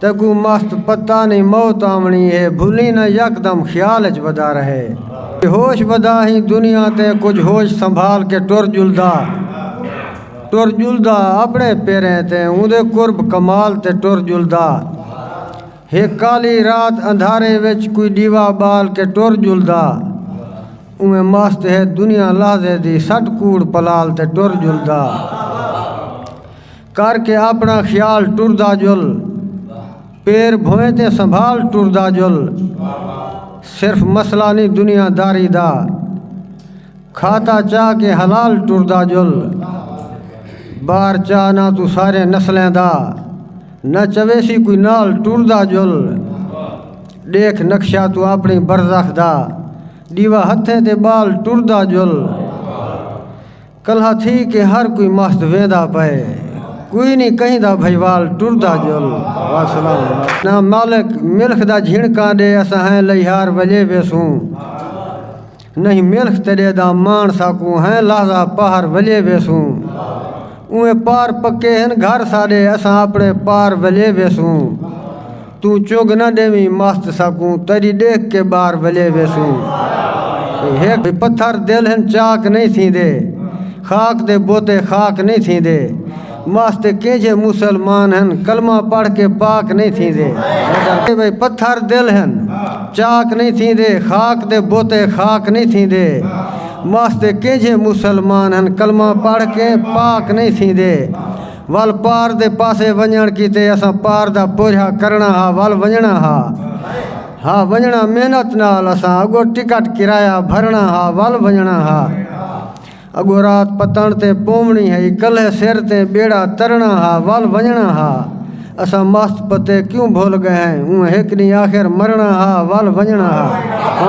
تیکوں مست پتہ نئیں موت آوݨی ہے بھلیں نہ یکدم خیال اچ ودا رہے بے ہوش ودا ہیں دنیا تے کجھ ہوش سنبھال کے ٹر ڄلدا ٹر ڄلدا اپݨے پیریں تے اوندے قرب کمال تے ٹر ڄلدا ہک کالی رات اندھارے وچ کوئی ݙیوا ٻال کے ٹر ڄلدا اونویں مست ہے دنیا لحظے دی سٹ کوڑ پلال تے ٹر ڄلدا۔ کر کے اپݨا خیال ٹردا جل پیر بھویں تے سنبھال ٹردا جل صرف مسئلہ نہیں دنیا داری دا کھاتا چاہ کے حلال ٹردا جل بار چاہ نہ تو سارے نسلیں دا نہ چوے سی کوئی نال ٹردا جل دیکھ نقشہ تو اپنی برزخ دا دیوا ہتھیں تے بال ٹردا جل کلہا تھی کہ ہر کوئی مست ویندا پئے کوئی نی کہیں دا بھئیوال ٹردا جل نہ مالک ملخ دا جھنکاں ڈے اساں ہیں لئیہار ولے ویسوں نہیں ملخ تیڈے دا مان ساکوں ہیں لحظہ پہر ولے ویسوں اویں پار پکے ہن گھر ساڈے اساں اپنے پار ولے ویسوں توں چنگ نہ ڈیویں مست ساکوں تیڈی ڈیکھ کے بار ولے ویسوں ہک پتھر دل ہن چاک نئیں تھیندے خاک دے بوتے خاک نئیں تھیندے مست کینجھے مسلمان ہن کلمہ پڑھ کے پاک نئیں تھیندے پتھر دل ہن چاک نئیں تھیندے خاک دے بوتے خاک نئیں تھیندے مست کینجھے مسلمان ہن کلمہ پڑھ کے پاک نئیں تھیندے ول پار دے پاسے ونڄݨ کیتے اساں پار دا پورھیا کرݨا ہا ول ونڄݨا ہا ہا ونڄݨا محنت نال اساں اڳو ٹکٹ کرایہ بھرݨا ہا ول ونڄݨا ہا اڳو رات پتݨ تے پووݨی ہئی کلھے سر تے ٻیڑا ترݨا ہا ول ونڄݨا ہا اساں مست پتے کیوں بھل ڳئے ہیں اوں ہک ݙینہہ آخر مرݨا ہا ول ونڄݨا ہا